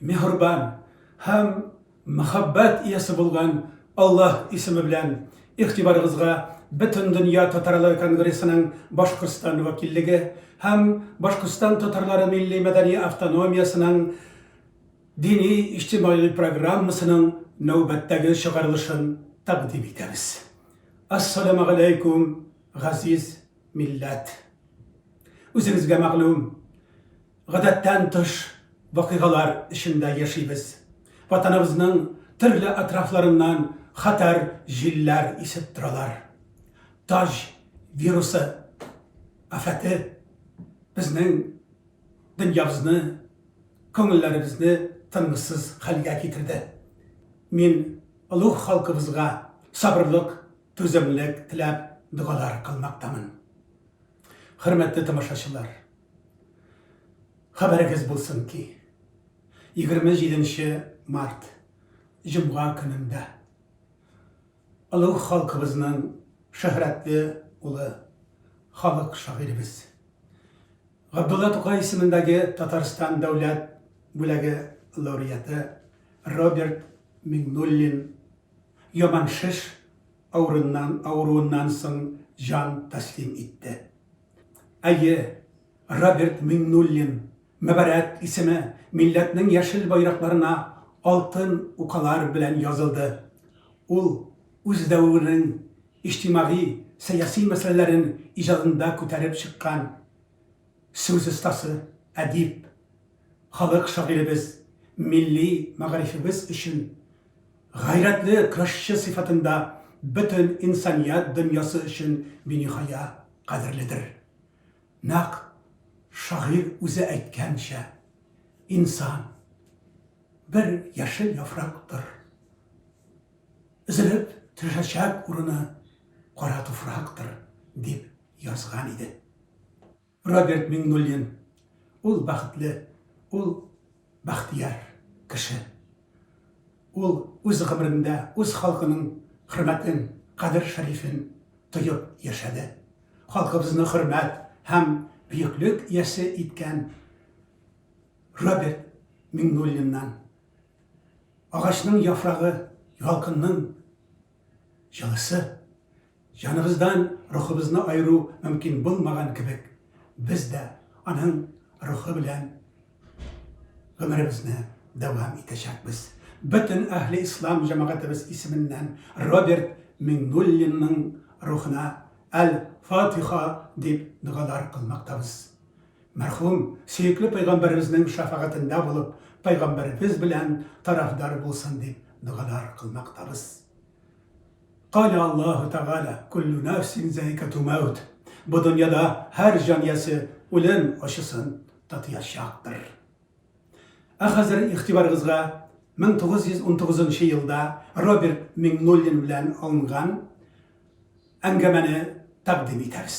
миһербан һәм мәхәббәт иясе булган Аллаһ исеме белән игътибарыгызга Бөтендөнья татарлары конгрессының Башкортстан вәкиллеге һәм Башкортстан татарлары милли-мәдәни автономиясенең дини-иҗтимагый программасының нәүбәттәге чыгарылышын тәкъдим итәбез. Ассаламу галәйкүм, газиз милләт! Үзегезгә мәгълүм, Гадәттән тыш вакыйгалар эчендә яшибез. Ватаныбызның төрле атрафларыннан хәтәр җилләр исеп торалар. Таҗ вирусы афәте безнең дөньябызны, күңелләребезне тынгысыз хәлгә китерде. Мин олуг халкыбызга сабырлык, түземлек теләп догалар кылмактамын. Хөрмәтле тамашачылар! Хәбәрегез булсын ки, 27 нче март, җомга көнендә олуг халкыбызның шөһрәтле улы, халык шагыйребез, Габдулла Тукай исемендәге Татарстан дәүләт бүләге лауреаты Роберт Миңнуллин яман шеш авырыннан, авыруыннан соң җан тәслим итте. Әйе, Роберт Миңнуллин, мөбарәк исеме милләтнең яшел байракларына алтын укалар белән язылды. Ул үз дәверенең иҗтимагый, сәяси мәсьәләләрен иҗадында күтәреп чыккан сүз остасы, әдип, халык шагыйребез, милли мәгарифебез өчен, Гайрәтле көрәшче сыйфатында бөтен инсаният дөньясы өчен биниһая кадерледер. Нәкъ шагыйрь үзе әйткәнчә, инсан, бер яшел яфрактыр. Өзелеп төшәчәк урыны кара туфрактыр, дип язган иде. Роберт Миңнуллин, ул бәхетле, ул бәхтияр кеше. Ул үз гомерендә үз халкының хөрмәтен, кадер-шәрифен тоеп яшәде. Халкыбызны хөрмәт һәм бөеклек иясе иткән Роберт Миңнуллиннан Агачның яфрагы ялкынның Җылысы, җаныбыздан рухыбызны аеру мөмкин булмаган кебек, без дә аның рухы белән гомеребезне дәвам итәчәкбез. Бөтен әһле ислам җәмәгатебез исеменнән Роберт Миңнуллинның рухына әл-Фатиха дип догалар кылмактабыз. Мәрхүм, сөекле пәйгамбәребезнең шәфәгатендә булып, пәйгамбәребез белән тарафдар булсын дип догалар кылмактабыз. Калә Аллаһу тәгалә, Куллу нәфсин зәикәту мәүт, Бу дөньяда һәр җан иясе үлем ачысын татыячактыр. Ә хәзер игътибарыгызга 1919 нчы елда Роберт Миңнуллин белән алынган әңгәмәне тәкъдим итәбез.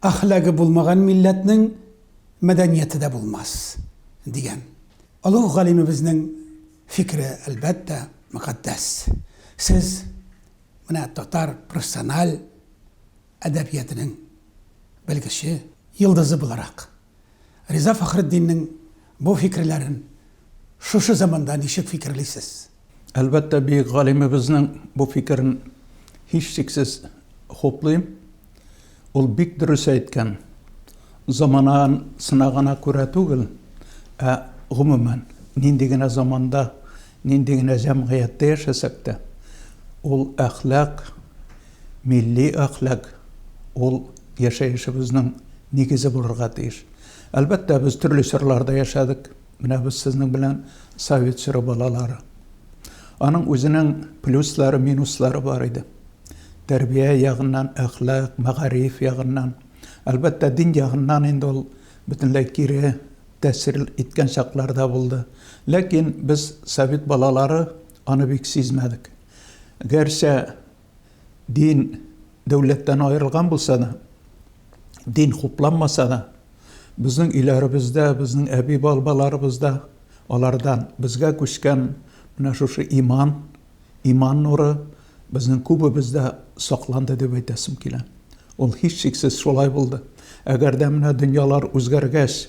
Әхлагы булмаган милләтнең мәдәнияте дә булмас, дигән олуг галимебезнең фикере, әлбәттә, мөкатдәс. Сез менә татар профессиональ әдәбиятының белгече, йолдызы буларак, Риза Фәхретдиннең бу фикерләрен шушы заманда ничек фикерлисез? Әлбәттә, бөек галимебезнең бу фикерен һичшиксез хуплыйм. Ул бик дөрес әйткән. Заманан сынагана күрә түгел, ә гомумән, нинди генә заманда Нинди генә җәмгыятьтә яшәсәк тә, ул әхлак, милли әхлак, ул яшәешебезнең нигезе булырга тиеш. Әлбәттә, без төрле чорларда яшәдек. Менә без сезнең белән совет чоры балалары. Аның үзенең плюслары, минуслары бар иде. Тәрбия ягыннан, әхлак, мәгариф ягыннан. Әлбәттә, дин ягыннан инде ул бөтенләй кире. тәэсир иткән чаклар да булды. Ләкин без, совет балалары, аны бик сизмәдек. Гәрчә дин дәүләттән аерылган булса да, дин хупланмаса да, безнең өйләребездә, безнең әби-бабаларыбызда алардан безгә күчкән менә шушы иман, Иман нуры безнең күбебездә сакланды дип әйтәсем килә. Ул һичшиксез шулай булды. Әгәр дә менә дөньялар үзгәргәч,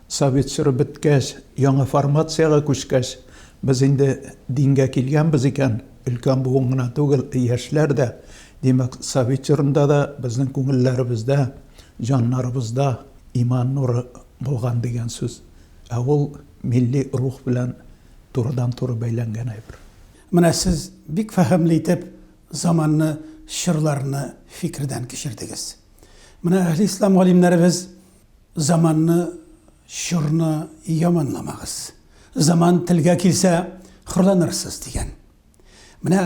совет чоры беткәч, яңа формациягә күчкәч, без инде дингә килгәнбез икән, өлкән буын гына түгел, яшьләр дә, димәк, совет чорында да безнең күңелләребездә, җаннарыбызда иман нуры булган дигән сүз. Ә ул милли рух белән турыдан-туры бәйләнгән әйбер. Менә сез бик фәһемле итеп заманны, чорларны фикердән кичердегез. Менә әһле-ислам галимнәребез заманны, чорны яманламагыз. Заман телгә килсә, хурланырсыз, дигән. Менә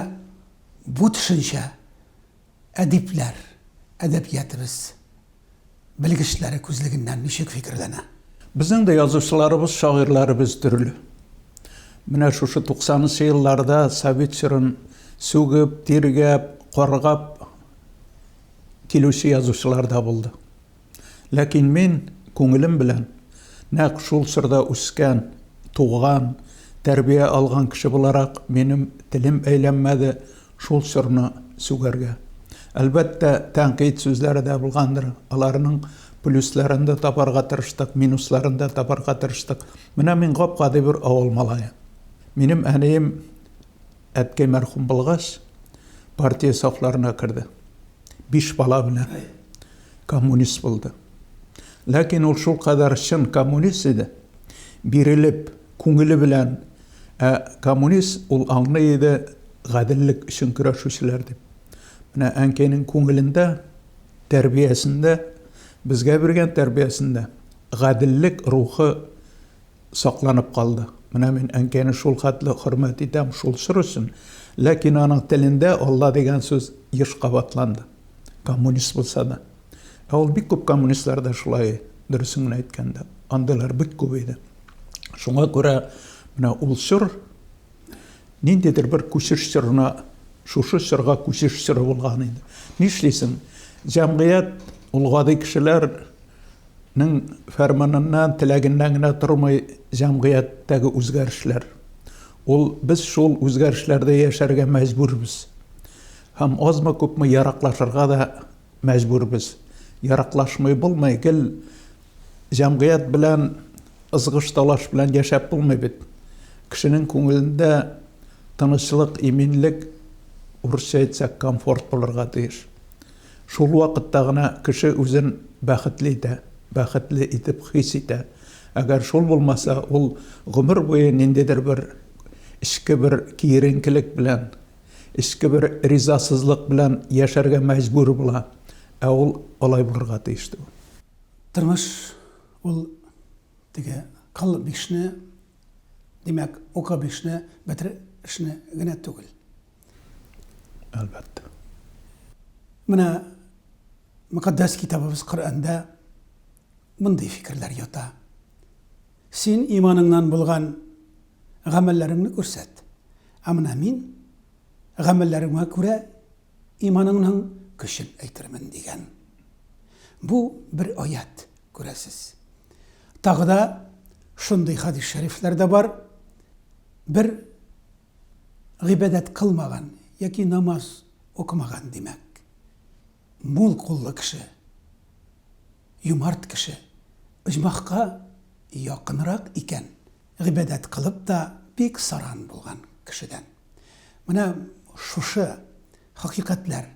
бу төшенчә Әдипләр әдәбиятыбыз белгечләре күзлегеннән ничек фикерләнә? Безнең дә язучыларыбыз, шагыйрьләребез төрле. Менә шушы туксанынчы елларда совет чорын сүгеп, тиргәп, каргап килүче язучылар да булды. Ләкин мин күңелем белән нәкъ шул чорда үскән, туган, тәрбия алган кеше буларак, минем телем әйләнмәде шул чорны сүгәргә. Әлбәттә, тәнкыйть сүзләре дә булгандыр, аларның плюсларын да табарга тырыштык, минусларын да табарга тырыштык. Менә мин гап-гади бер авыл малае. Минем әнием әткәй мәрхүм булгач, партия сафларына керде. Биш бала белән коммунист булды. Ләкин ул шул кадәр чын коммунист иде, бирелеп, күңеле белән, ә коммунист ул аңлый иде гаделлек өчен көрәшүчеләр дип. Менә әнкәйнең күңелендә, тәрбиясендә, безгә биргән тәрбиясендә гаделлек рухы сакланып калды. Менә мин әнкәйне шул хәтле хөрмәт итәм шул чор өчен. Ләкин аның телендә Алла дигән сүз еш кабатланды. Коммунист булса да. Ә ул бик күп коммунистлар да шулай, дөресен генә әйткәндә. Андыйлар бик күп иде. Шуңа күрә менә ул чор ниндидер бер күчеш чорына, шушы чорга күчеш чоры булган иде. Нишлисең, җәмгыять, ул гади кешеләр, Ның фәрманыннан, теләгеннән генә тормый җәмгыятьтәге үзгәрешләр. Ул без шул үзгәрешләрдә яшәргә мәҗбүрбез. Һәм азмы-күпме яраклашырга да мәҗбүрбез. Яраклашмый булмый, гел җәмгыять белән ызгыш-талаш белән яшәп булмый бит. Кешенең күңелендә тынычлык, иминлек, урысча әйтсәк, комфорт булырга тиеш. Шул вакытта гына кеше үзен бәхетле итә, бәхетле итеп хис итә. Әгәр шул булмаса, ул гомер буе ниндидер бер эчке бер киеренкелек белән, эчке бер ризасызлык белән яшәргә мәҗбүр була. Ә ул алай булырга тиеш түгел. Тормыш ул теге кыл бишне, димәк, укы бишне, бетер эшне генә түгел. Әлбәттә. Менә мөкатдәс китабыбыз Коръәндә мондый фикерләр ята. Син иманыңнан булган гамәлләреңне күрсәт. Ә менә мин гамәлләремә күрә иманыңның көчен әйтермен дигән. Бу бер аят, күрәсез. Тагы да шундый хадис шәрифләр дә бар. Бер Гыйбадәт кылмаган яки намаз укымаган, димәк, мул куллы кеше, юмарт кеше, оҗмахка якынрак икән, гыйбадәт кылып та бик саран булган кешедән. Менә шушы хакыйкатьләр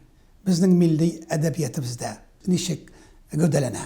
безнең милли әдәбиятыбездә ничек гәүдәләнә?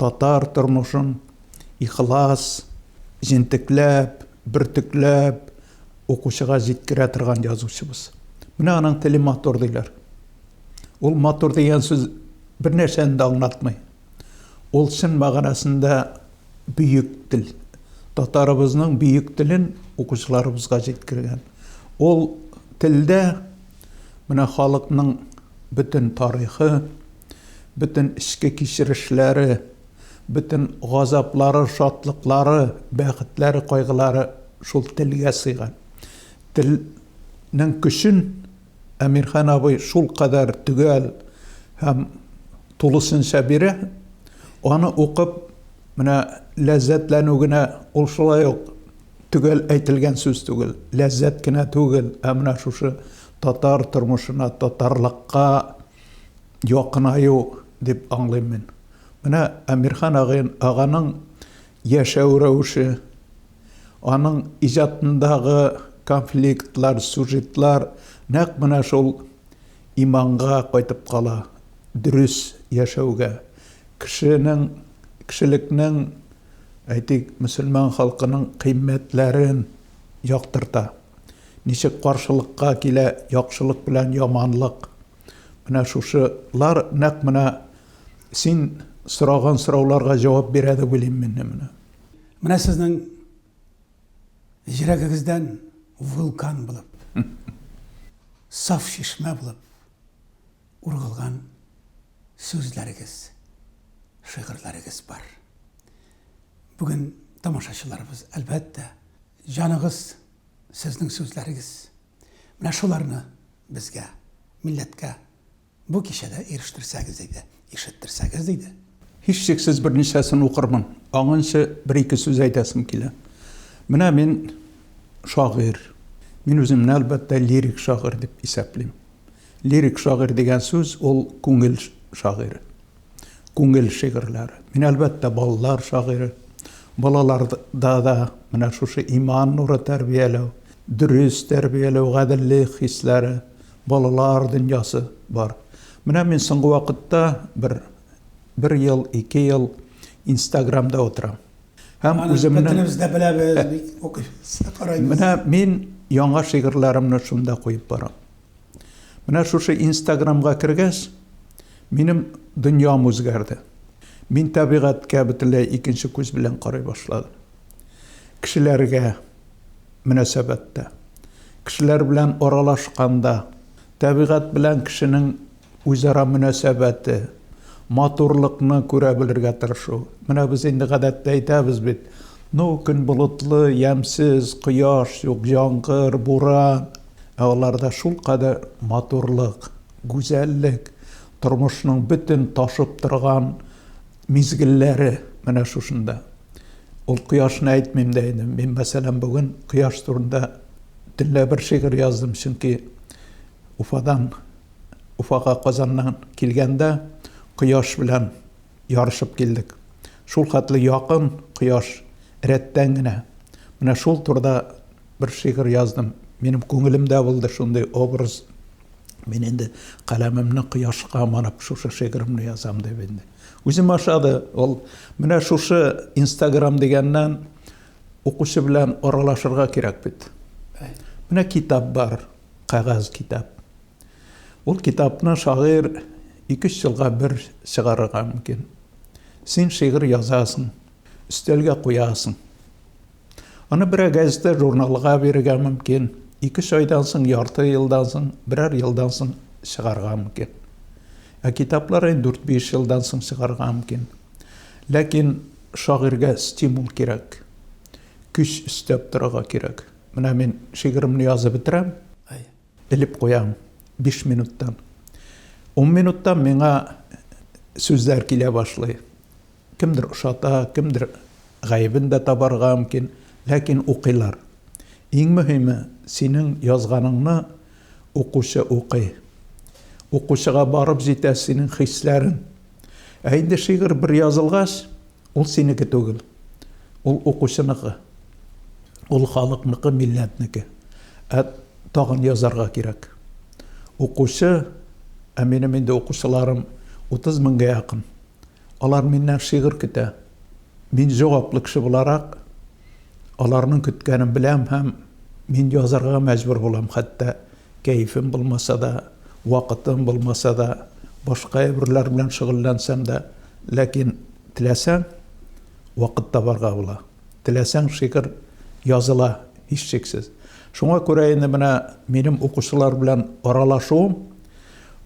Татар тормышын ихлас, җентекләп, бөртекләп укучыга җиткерә торган язучыбыз. Менә аның теле матур диләр. Ул матур дигән сүз бернәрсәне дә аңлатмый. Ул чын мәгънәсендә бөек тел. Татарыбызның бөек телен укучыларыбызга җиткергән. Ул телдә менә халыкның бөтен тарихы, Бөтен эчке кичерешләре, бөтен газаплары, шатлыклары, бәхетләре, кайгылары шул телгә сыйган. Телнең көчен Әмирхан абый шул кадәр төгәл һәм тулысынча бирә, аны укып, менә ләззәтләнү генә ул шулай ук төгәл әйтелгән сүз түгел, ләззәт кенә түгел, ә менә шушы татар тормышына, татарлыкка, Якынаю дип аңлыйм мин. Менә Әмирхан аганың яшәү рәвеше, аның иҗатындагы конфликтлар, сюжетлар нәкъ менә шул иманга кайтып кала, дөрес яшәүгә, кешенең, кешелекнең, әйтик, мөселман халкының кыйммәтләрен яктырта. Ничек каршылыкка килә яхшылык белән яманлык? Менә шушылар нәкъ менә син сораган сорауларга җавап бирә дип уйлыйм мин менә. Менә сезнең йөрәгегездән вулкан булып, саф чишмә булып ургылган сүзләрегез, шигырьләрегез бар. Бүген тамашачыларыбыз, әлбәттә, җаныгыз Сезнең сүзләрегез менә шуларны безгә, милләткә бу кичәдә ирештерсәгез иде, ишеттерсәгез иде. Һичшиксез берничәсен укырмын. Аңынчы бер-ике сүз әйтәсем килә. Менә мин шагыйрь. Мин үземне, әлбәттә, лирик шагыйрь дип исәплим. Лирик шагыйрь дигән сүз, ул күңел шагыйре. күңел шигырьләре. Мин, әлбәттә, балалар шагыйре. Балаларда да менә шушы иман нуры тәрбияләү, дөрес тәрбияләү, гаделлек хисләре, балалар дөньясы бар. Менә мин соңгы вакытта бер бер ел, ике ел Инстаграмда утырам. Һәм үземне Бөтенебез дә беләбез, бик укыйбыз, карыйбыз. Менә мин яңа шигырьләремне шунда куеп барам. Менә шушы инстаграмга кергәч, минем дөньям үзгәрде. Мин табигатькә бөтенләй икенче күз белән карый башладым. Кешеләргә мөнәсәбәттә, кешеләр белән аралашканда, табигать белән кешенең Үзара мөнәсәбәте, матурлыкны күрә белергә тырышу. Менә без инде гадәттә әйтәбез бит, Ну, көн болытлы, ямьсез, кояш юк, яңгыр, буран. Ә аларда шулкадәр матурлык, гүзәллек, тормышның бөтен ташып торган мизгелләре менә шушында. Ул кояшны әйтмим дә инде. Мин, мәсәлән, бүген кояш турында төнлә бер шигырь яздым, чөнки Уфадан Уфага Казаннан килгәндә кояш белән ярышып килдек. Шул хәтле якын кояш, рәттән генә. Менә шул турыда бер шигырь яздым. Минем күңелемдә булды шундый образ. Мин инде каләмемне кояшка манып шушы шигыремне язам дип инде. Үзем ашады ул. Менә шушы Инстаграм дигәннән укучы белән аралашырга кирәк бит. Менә китап бар. кәгазь китап. Ул китапны шагыйрь ике-өч елга бер чыгарырга мөмкин. Син шигырь язасың, өстәлгә куясың. Аны берәр газетә, журналга бирергә мөмкин. Ике-өч айдан соң, ярты елдан соң, берәр елдан соң чыгарга мөмкин. Ә китаплар инде дүрт-биш елдан соң чыгарга мөмкин. Ләкин шагыйрьгә стимул кирәк. Көч өстәп торырга кирәк. Менә мин шигыремне язып бетерәм. Элеп куям 5 минуттан. 10 минуттан миңа сүзләр килә башлый. Кемдер ошата, кемдер гаебен дә табарга мөмкин, ләкин укыйлар. Иң мөһиме, синең язганыңны укучы укый. Укучыга барып җитә синең хисләрең. Ә инде шигырь бер язылгач, Ул синеке түгел, ул укучыныкы, ул халыкныкы, милләтнеке. Ә тагын язарга кирәк. Укучы, ә минем инде укучыларым 30 меңгә якын. Алар миннән шигырь көтә. Мин җаваплы кеше буларак, аларның көткәнен беләм һәм мин язарга мәҗбүр булам, хәтта Кәефем булмаса да, вакытым булмаса да, башка әйберләр белән шөгыльләнсәм дә, ләкин теләсәң, вакыт табарга була. Теләсәң, шигырь языла, һичшиксез. Шуңа күрә инде менә минем укучылар белән аралашуым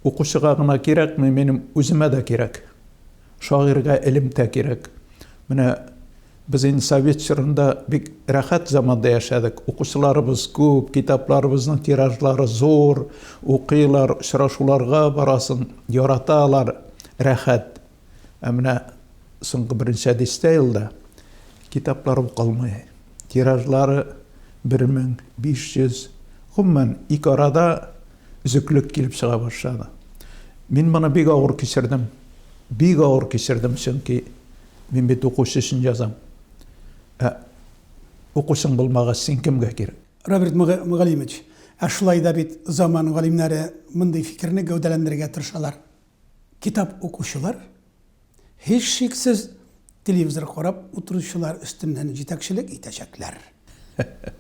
укучыга гына кирәкми, минем үземә дә кирәк. Шагыйрьгә элемтә кирәк. Менә Без инде совет чорында бик рәхәт заманда яшәдек. Укучыларыбыз күп, китапларыбызның тиражлары зур, укыйлар, очрашуларга барасың, яраталар, рәхәт. Ә менә соңгы берничә дистә елда китаплар укылмый. Тиражлары 1500, гомумән, ике арада өзеклек килеп чыга башлады. Мин моны бик авыр кичердем. Бик авыр кичердем, чөнки Мин бит укучы өчен язам. Ә укучың булмагач, син кемгә кирәк? Роберт Мөгаллимович, ә шулай да бит заман галимнәре мондый фикерне гәүдәләндерергә тырышалар. Китап укучылар, һичшиксез, телевизор карап утыручылар өстеннән җитәкчелек итәчәкләр,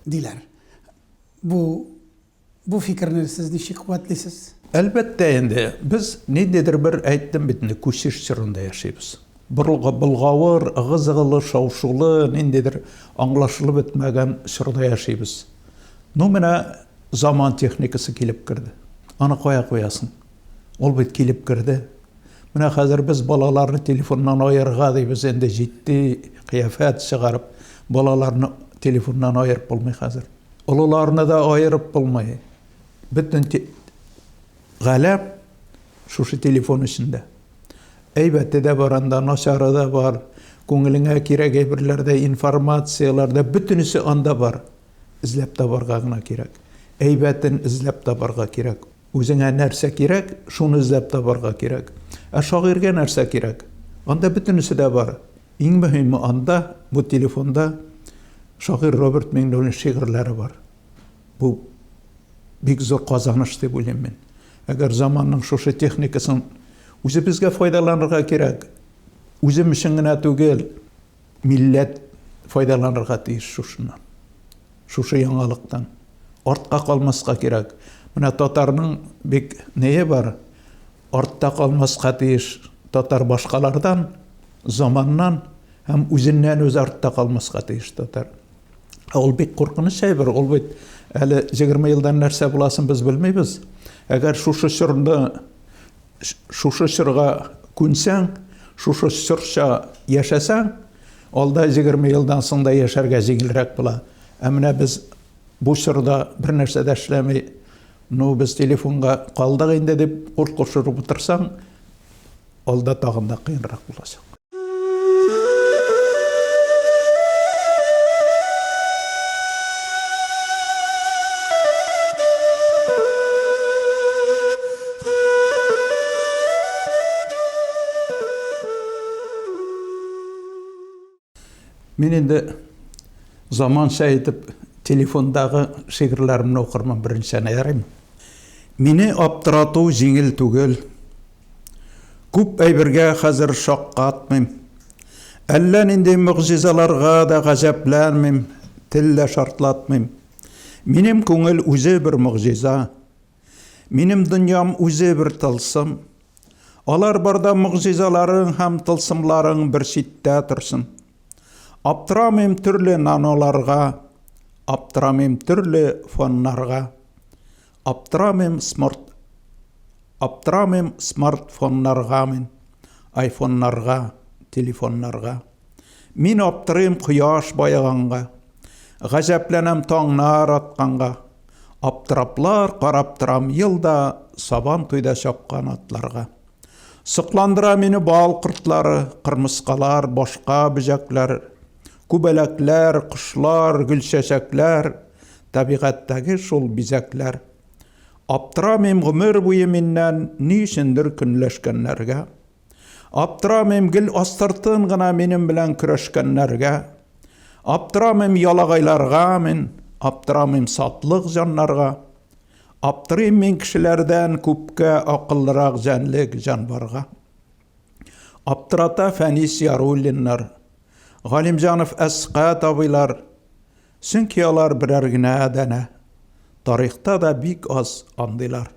диләр. Бу. Бу фикерне сез ничек куәтлисез? Әлбәттә инде, без ниндидер бер, әйттем бит инде, күчеш чорында яшибез. Болгавыр, ыгы-зыгылы, шау-шулы, ниндидер аңлашылып бетмәгән чорда яшибез. Ну, менә заман техникасы килеп керде. Аны кая куясың? Ул бит килеп керде. Менә хәзер без балаларны телефоннан аерырга дибез, инде җитди кыяфәт чыгарып, балаларны телефоннан аерып булмый хәзер. Олыларны да аерып булмый. Бөтен галәм шушы телефон эчендә. Әйбәте дә бар анда, начары да бар. Күңелеңә кирәк әйберләр дә, информацияләр дә, бөтенесе анда бар. Эзләп табарга гына кирәк. Әйбәтен эзләп табарга кирәк. Үзеңә нәрсә кирәк, шуны эзләп табарга кирәк. Ә шагыйрьгә нәрсә кирәк? Анда бөтенесе дә бар. Иң мөһиме анда, бу телефонда шагыйрь Роберт Миңнуллин шигырьләре бар. Бу бик зур казаныш дип уйлыйм мин. Әгәр заманның шушы техникасын үзебезгә файдаланырга кирәк. Үзем өчен генә түгел, милләт файдаланырга тиеш шушыннан. Шушы яңалыктан. Артка калмаска кирәк. Менә татарның бик нее бар, Артта калмаска тиеш татар башкалардан, заманнан һәм үзеннән-үзе артта калмаска тиеш татар. Ә ул бик куркыныч әйбер, ул бит әле 20 елдан нәрсә буласын без белмибез. Әгәр шушы чорны шушы чорга күнсәң, шушы чорча яшәсәң, алда 20 елдан соң да яшәргә җиңелрәк була. Ә менә без Бу чорда бернәрсә дә эшләми, ну, без телефонга калдык инде дип курт кушырып утырсаң, алда тагын да кыенрак булачак. Мин инде заманча итеп телефондагы шигырьләремне укырмын беренчәне ярыйм. Мине аптырату җиңел түгел. Күп әйбергә хәзер шаккатмыйм. Әллә нинди мөгъҗизаларга да гаҗәпләнмим, тел дә шартлатмыйм. Минем күңел үзе бер мөгъҗиза. Минем дөньям үзе бер тылсым. Алар барда могҗизаларың һәм тылсымларың бер читтә торсын. Аптырамыйм төрле наноларга, аптырамыйм төрле фоннарга. Аптырамыйм смарт Аптырамыйм смартфоннарга мин, айфоннарга, телефоннарга. Мин аптырыйм кояш баеганга, Гаҗәпләнәм таңнар атканга. Аптыраплар карап торам елда Сабан туйда чапкан атларга. Сокландыра мине бал кортлары, Кырмыскалар, башка бөҗәкләр, Күбәләкләр, кошлар, гөлчәчәкләр, Табигатьтәге шул бизәкләр. Аптырамыйм гомер буе миннән Ни өчендер көнләшкәннәргә. Аптырамыйм гел астыртын гына минем белән көрәшкәннәргә. Аптырамыйм ялагайларга мин, аптырамыйм сатлык җаннарга. Аптырыйм мин кешеләрдән күпкә акыллырак җәнлек җанварга. Аптырата Фәнис Яруллиннар, Галимҗанов Әсхәт абыйлар, Чөнки алар берәр генә данә. Тарихта да бик аз андыйлар.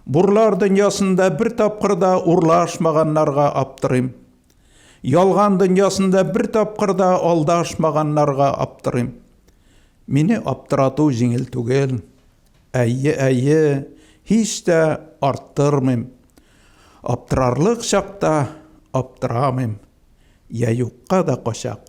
Бурлар дөньясында бер тапкыр да урлашмаганнарга аптырыйм. Ялган дөньясында бер тапкыр да алдашмаганнарга аптырыйм. Мине аптырату җиңел түгел. Әйе, әйе, һич тә арттырмыйм. Аптырарлык чакта аптырамыйм. Йә юкка да качак.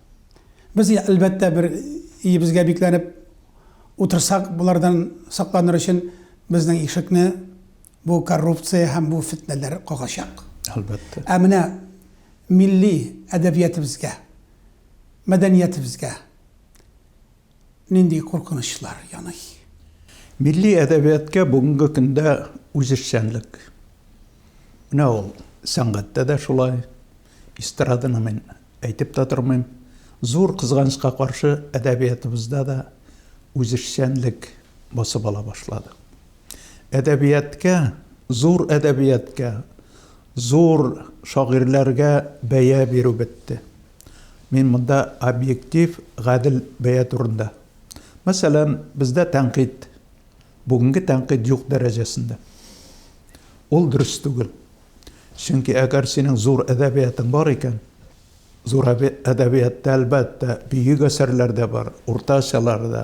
Без, әлбәттә, бер иебезгә бикләнеп утырсак, болардан сакланыр өчен безнең ишекне бу коррупция һәм бу фетнәләр кагачак. Әлбәттә. Ә менә милли әдәбиятыбызга, мәдәниятыбызга, Нинди куркынычлар яный? Милли әдәбияткә бүгенге көндә үзешчәнлек. Менә ул сәнгатьтә дә шулай. Эстраданы мин әйтеп тә тормыйм. Зур кызганычка каршы, әдәбиятыбызда да үзешчәнлек басып ала башлады. Әдәбияткә, зур әдәбияткә, Зур шагыйрьләргә бәя бирү бетте. Мин монда объектив, гадел бәя турында. Мәсәлән, бездә тәнкыйть, бүгенге тәнкыйть юк дәрәҗәсендә. Ул дөрес түгел. Чөнки әгәр синең зур әдәбиятың бар икән, зур әдәбиятта, әлбәттә, бөек әсәрләр дә бар, уртачалар да,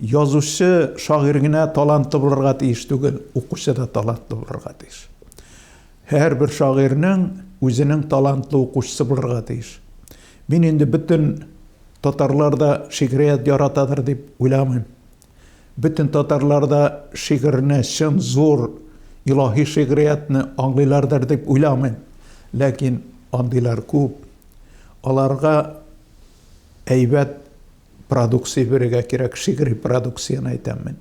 Язучы, шагыйрь генә талантлы булырга тиеш түгел, укучы да талантлы булырга тиеш. Һәрбер шагыйрьнең үзенең талантлы укучысы булырга тиеш. Мин инде бөтен татарлар да шигърият яратадыр дип уйламыйм. Бөтен татарлар да шигырьне, чын зур илаһи шигъриятне аңлыйлардыр дип уйламыйм. Ләкин андыйлар күп. Аларга әйбәт продукция бирергә кирәк, шигъри продукцияне әйтәм мин.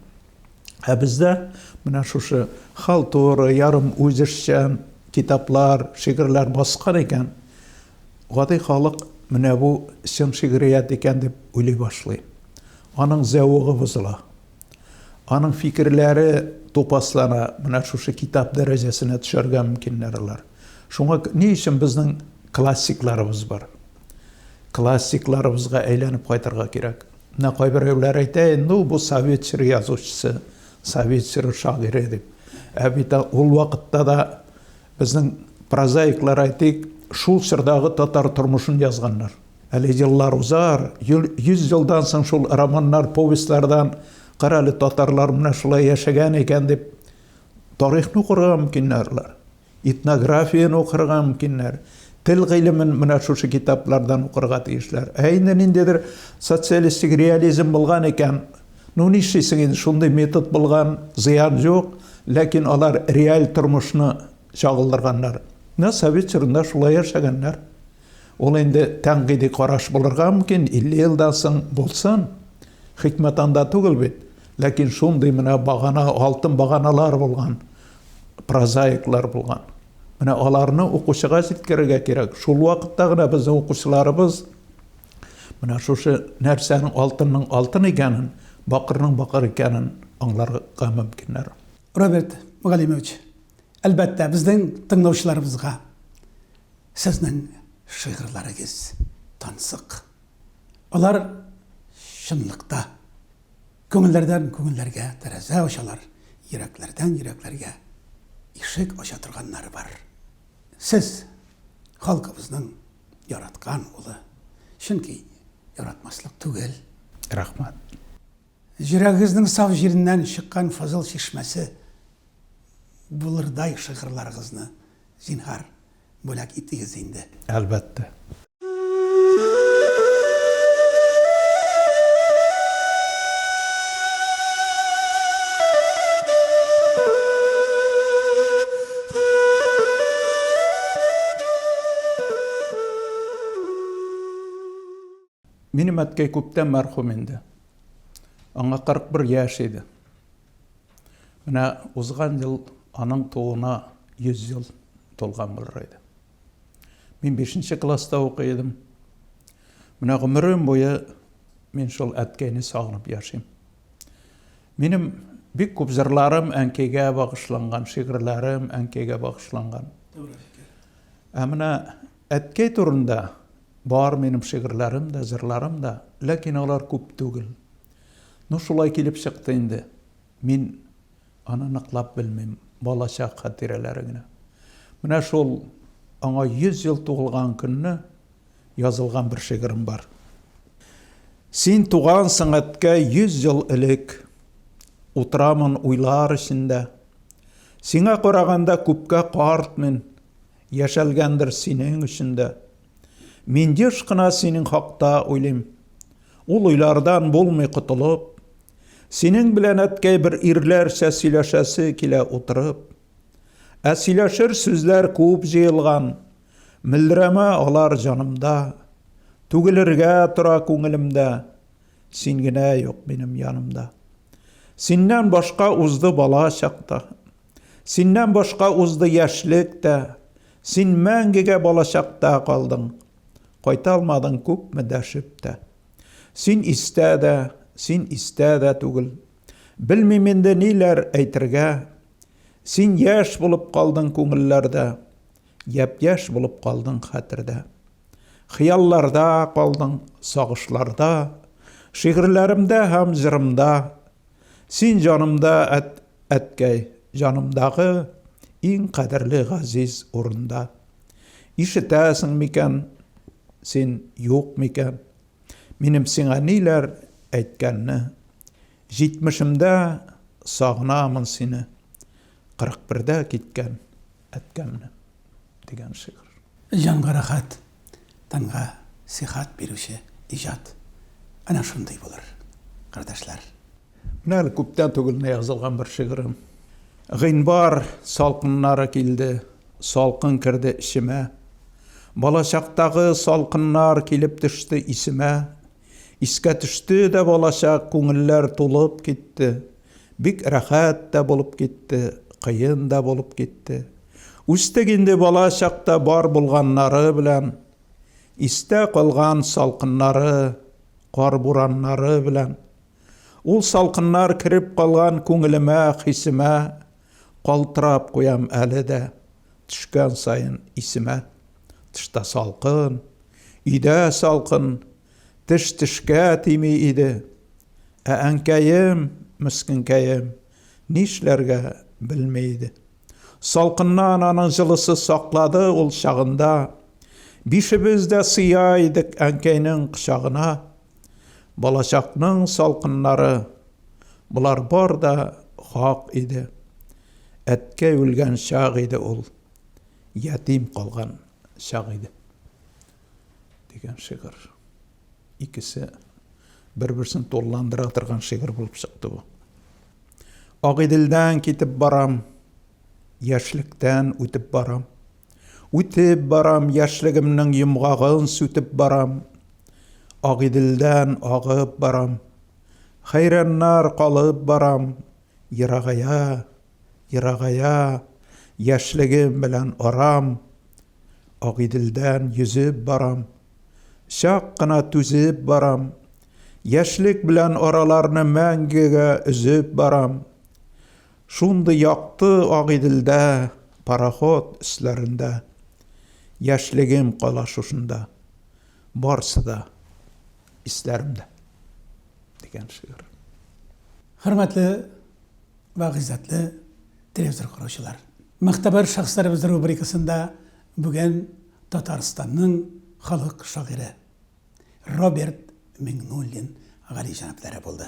Ә бездә менә шушы халтура, ярым үзешчән китаплар, шигырьләр баскан икән, гади халык менә бу чын шигърият икән дип уйлый башлый. Аның зәвыгы бозыла. Аның фикерләре тупаслана, менә шушы китап дәрәҗәсенә төшәргә мөмкиннәр алар. Шуңа ни өчен безнең классикларыбыз бар? Классикларыбызга әйләнеп кайтырга кирәк. Менә кайберәүләр әйтә, ну бу совет чоры язучысы, совет чоры шагыйре дип. Ә бит ул вакытта да безнең прозаиклар әйтик, шул чордагы татар тормышын язганнар. Әле еллар узар, йол, йөз елдан соң шул романнар, повестьлардан кара әле татарлар менә шулай яшәгән икән дип тарихны укырга мөмкиннәрләр. Этнографияне укырга мөмкиннәр. Тел гыйлемен менә шушы китаплардан укырга тиешләр. Ә инде ниндидер социалистик реализм булган икән, ну нишлисең инде, шундый метод булган, зыян юк, ләкин алар реаль тормышны чагылдырганнар. Менә совет чорында шулай яшәгәннәр. Ул инде тәнкыйди караш булырга мөмкин, 50 елдан соң булсын. Хикмәт анда түгел бит. Ләкин шундый менә багана, алтын баганалар булган, прозаиклар булган. Менә аларны укучыга җиткерергә кирәк. Шул вакытта гына безнең укучыларыбыз менә шушы нәрсәнең алтынның алтын икәнен, бакырның бакыр икәнен аңларга мөмкиннәр. Роберт Галимович, Әлбәттә, безнең тыңлаучыларыбызга сезнең шигырьләрегез тансык. Алар чынлыкта күңелләрдән күңелләргә тәрәзә ачалар, йөрәкләрдән йөрәкләргә ишек ача торганнары бар. Сез халкыбызның яраткан улы. Чөнки яратмаслык түгел. Рәхмәт. Йөрәгегезнең саф җиреннән чыккан фазыл чишмәсе булырдай шигырьларыгызны, зинһар, бүләк итегез инде. Әлбәттә. Минем әткәй күптән мәрхүм инде. Аңа 41 яшь иде. Менә узган ел аның тууына 100 ел тулган булыр иде. Мин 5 класста укый идем. Менә гомерем буе мин шул әткәйне сагынып яшим. Минем бик күп җырларым әнкәйгә багышланган, шигырьләрем әнкәйгә багышланган. Ә менә Әткәй турында бар минем шигырьләрем дә, җырларым да, ләкин алар күп түгел. Ну, шулай килеп чыкты инде, мин аны ныклап белмим, балачак хатирәләре генә. Менә шул аңа 100 ел тугылган көнне язылган бер шигырем бар. Син тугансың, әткәй, 100 ел элек, Утырамын уйлар эчендә. Сиңа караганда күпкә карт мин, Яшәлгәндер синең өчен дә. Мин еш кына синең хакта уйлыйм. Ул уйлардан булмый котылып. Синең белән, әткәй, бер ирләрчә сөйләшәсе килә утырып. Ә сөйләшер сүзләр күп җыелган. Мөлдерәмә алар җанымда. Түгелергә тора күңелемдә. Син генә юк минем янымда. Синнән башка узды бала чакта. Синнән башка узды яшьлек тә, Син мәңгегә балачакта калдың. Кайталмадың күпме дәшеп тә. Син истә дә, син истә дә түгел. Белмим инде ниләр әйтергә. Син яшь булып калдың күңелләрдә, Япь-яшь булып калдың хәтердә. Хыялларда калдың, сагышларда, Шигырьләремдә һәм җырымда. Син җанымда, әт, әткәй, җанымдагы Иң кадерле газиз урында. Ишетәсең микән, син юк микән, Минем сиңа ниләр әйткәнне. Җитмешемдә сагынамын сине, Кырык бердә киткән. әткәмне дигән шигырь. Җанга рәхәт, тәнгә сихәт бирүче иҗат әнә шундый булыр, кардәшләр. Менә әле күптән түгел генә язылган бер шигырем. Гыйнвар салкыннары килде, салкын керде эчемә. Балачактагы салкыннар килеп төште исемә, Искә төште дә балачак, күңелләр тулып китте. Бик рәхәт тә булып китте, кыен да булып китте. Үстек инде бала чакта бар булганнары белән. Истә калган салкыннары, кар бураннары белән. Ул салкыннар кереп калган күңелемә, хисемә калтырап куям әле дә. Төшкән саен исемә, тышта салкын, өйдә салкын, теш тешкә тими иде. Ә әнкәем, мескенкәем, нишләргә белми иде. Салкыннан аның җылысы саклады ул чагында. Бишебез дә сыя идек әнкәйнең кочагына. Балачакның салкыннары, болар бар да хак иде. Әткәй үлгән чак иде ул, ятим калган чак иде. Дигән шигырь. Икесе бер-берсен тулыландыра торган шигырь булып чыкты бу. Агыйделдән китеп барам, яшьлектән үтеп барам. Үтеп барам, яшьлегемнең йомгагын сүтеп барам. Агыйделдән агып барам. Хәйраннар калып барам, Ерагая, ерагая Яшьлегем белән арам, Агыйделдән йөзеп барам, Чак кына түзеп барам, Яшьлек белән араларны Мәңгегә өзеп барам. Шундый якты Агыйделдә, Пароход өсләрендә. Яшьлегем кала шушында. Барысы да исләремдә дигән шигырь. Хөрмәтле вә гыйззәтле телевизор караучылар! Мөгътәбәр шәхесләребез рубрикасында бүген Татарстанның халык шагыйре Роберт Миңнуллин галиҗәнаплары булды.